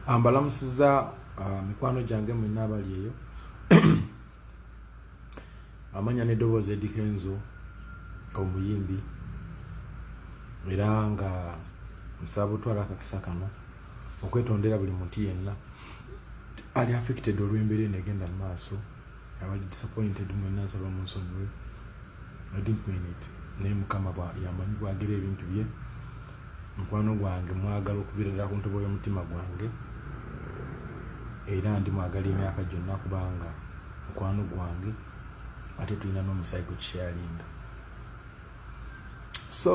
ambalamusiza ah, mikwano gyange mwena abali eyo amanya nedoboozi edikenzo omuyimbi era nga nsaba otwala akakisa kano okwetondera buli muntu yenna ali affected olw'embeera eno egenda mu maaso abali disappointed mwena nsaba munsonyiwe i didn't mean it naye mukama yamanyi bwagira ebintu bye mukwano gwange mwagala okuvirira ku ntobo y'omutima gwange era ndi mwagala emyaka gyonna kubanga mukwano gwange ate tulina n'omusaayi gwe tusharinga so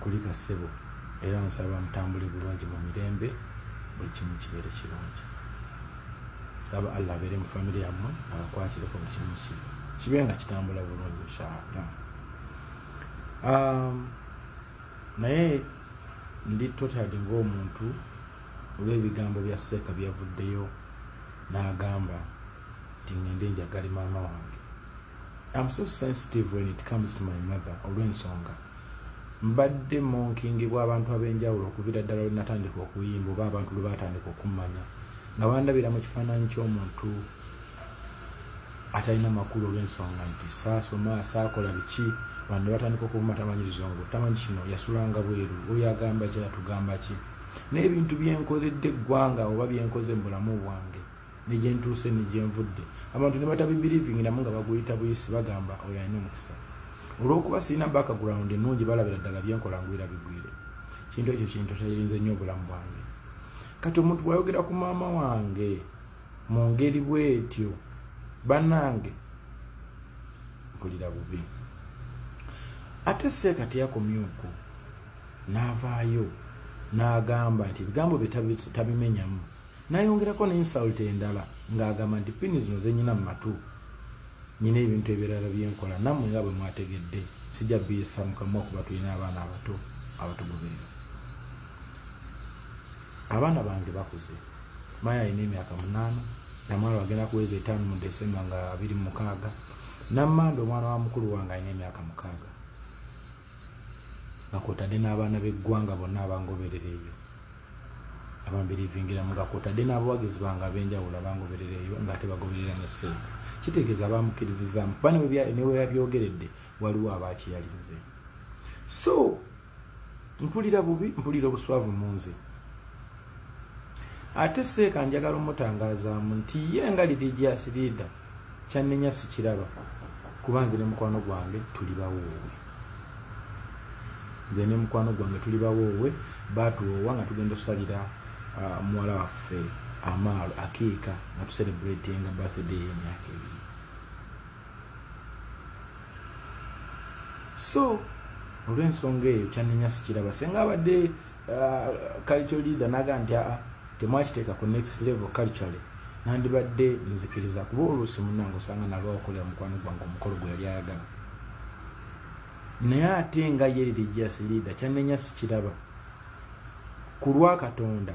kulika sebo era nsaba mutambule bulungi mu mirembe buli kimu kibeere kirungi saba allah abeere mu famiry yammwe abakwatireko mu kimu ki kibe nga kitambula bulungi inshallah um, naye ndi totadi ngaomuntu olw'ebigambo bya seeka byavuddeyo n'agamba nti ngende njagale maama wange I'm so sensitive when it comes to my mother olw'ensonga mbadde monkingibwa abantu ab'enjawulo okuviira ddala lwe natandika okuyimba oba abantu lwe baatandika okummanya nga bandabira mu kifaananyi ky'omuntu atalina makulu olw'ensonga nti saasoma saakola biki bano ne batandika okuvuma tamanyi luzungu tamanyi kino yasulanga bweru oyo agamba ki atugamba ki n'ebintu byenkoledde eggwanga oba byenkoze mu bulamu bwange negyentuuse negyenvudde abantu nebatabibirivingi namu nga baguyita buyisi bagamba oyo alina omukisa olwokuba sirina background enungi balabira ddala byenkola ngwira bigwire kintu ekyo kintu kyayirinze nnyo obulamu bwange kati omuntu bwayogera ku maama wange mu ngeri bwetyo banange mpulira bubi ate seeka teyakomye okwo n'avaayo n'agamba nti ebigambo bye tabimenyamu Nayongerako ne insult endala ng'agamba nti pini zino zenyina mu matu nyina ebintu ebirala byenkola namwe nga bwe mwategedde sijja biyisa mukamwa kuba tulina abaana abato abatugoberera abaana bange bakuze maya alina emyaka munaana namwana wagenda kuweza etaano mu desemba nga abiri mu mukaaga nammanda omwana wa mukulu wange alina emyaka mukaaga nga kwotadde n'abaana b'eggwanga bonna abangoberera eyo abambirivingira nga kwotadde n'abawagizi bange ab'enjawulo abangoberera eyo ng'ate bagoberera ne seeka kitegeeza baamukkiririzaamu kuba newe yabyogeredde waliwo abaakiyalinze so mpulira bubi mpulira obuswavu mu nze ate seeka njagala omutangazaamu nti ye nga lirigyasiriida kyannenya sikiraba kuba nze ne mukwano gwange tuli bawoowe nze ne mukwano gwange tuli bawoowe baatuwoowa nga tugenda osalira uh, muwala waffe amaalo akiika nga tuserebratinga birthday y'emyaka ebiri so olw'ensonga eyo kyannenya sikiraba senga abadde uh, culture leader naga nti aa temwakiteeka ku next level culturally nandibadde nzikiriza kuba oluusi munange osanga nalwa okolera mukwano gwange omukolo gwe yali ayagala naye ate nga ye religious leader kyanenya sikiraba ku lwa katonda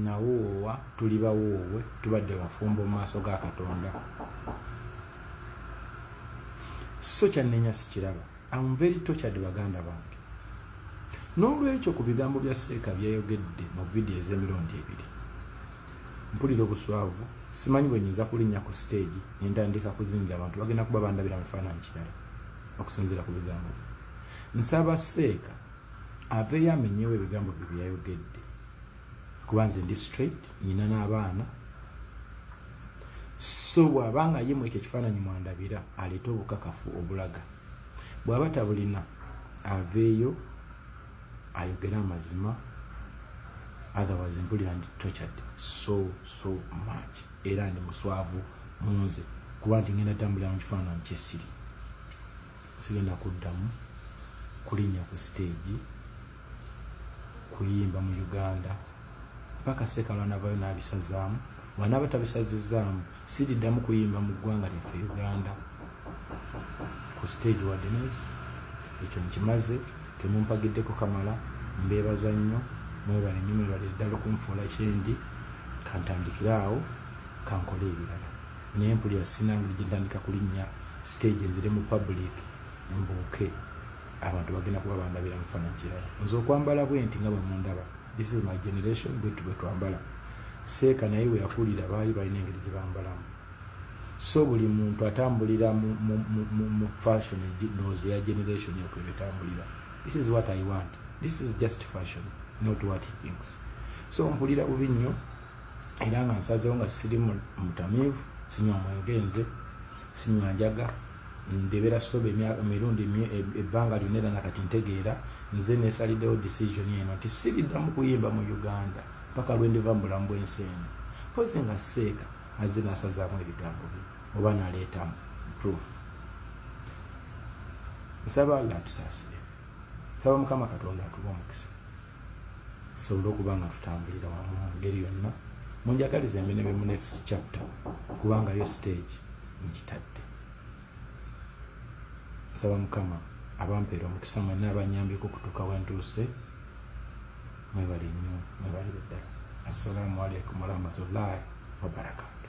nawoowa tuli bawoowe tubadde bafumbo mu maaso ga katonda so kyannenya sikiraba am very tortured baganda bange n'olwekyo ku bigambo bya seeka byeyogedde mu vidiyo ez'emirundi ebiri mpulira obuswavu simanyi bwe nyinza kulinnya ku siteegi nentandika kuzingira abantu bagenda kuba bandabira mu kifaananyi kirala okusinziira ku bigambo nsaba seeka aveeyo amenyewo ebigambo bye byayogedde kuba nze ndi straight nyina n'abaana so bw'aba nga ye mu ekyo ekifaananyi mwandabira aleete obukakafu obulaga bw'aba tabulina aveeyo ayogere amazima otherwise mpulira ndi tortured so so much era ndi muswavu munze kuba nti ngenda tambulira mu kifaananyi kyesiri sigenda kuddamu kulinnya ku siteegi kuyimba mu uganda paka sekalo anavayo nabisazaamu wanaba tabisazizaamu siriddamu kuyimba mu ggwanga lyaffe uganda ku siteegi wadde neki ekyo nkimaze temumpagiddeko kamala mbeebaza nnyo mwebale nnyo mwebale ddala okunfuula kyendi kantandikire awo kankole ebirala naye mpulira sinangeri gye ntandika kulinnya siteegi nzire mu public mbuuke abantu bagenda kuba bandabira mu kifaananyi kirala nze okwambala bwe nti nga bwe mundaba this is my generation bwetu bwe twambala seeka naye we yakulira baali balina engeri gye bambalamu so buli muntu atambulira mu fashion noze ya generation yokwe betambulira this is what i want this is just fashion not what he thinks so mpulira bubi nnyo era nga nsazewo nga siri mutamiivu sinywa mwenge nze sinywa njaga ndebera soba emirundi e-, ebbanga lyona era nakati ntegeera nze nesalidewo decision eno nti siriddamu kuyimba mu uganda paka lwendiva mu bulamu bwensi eno kozi nga seeka azze nasazaamu ebigambo bye oba naleetamu proof nsaba allah tusasire nsaba mukama katonda atuba omukisa tusobole okuba nga tutambulira wamu mu ngeri yonna munjagaliza emirimu mu next chapter kubanga yo stage nkitadde nsaba mukama abampeera omukisa mwena abanyambiko okutuuka wentuuse mwebali nnyo mwebali ddala assalamu alaikum warahmatullahi wabarakatu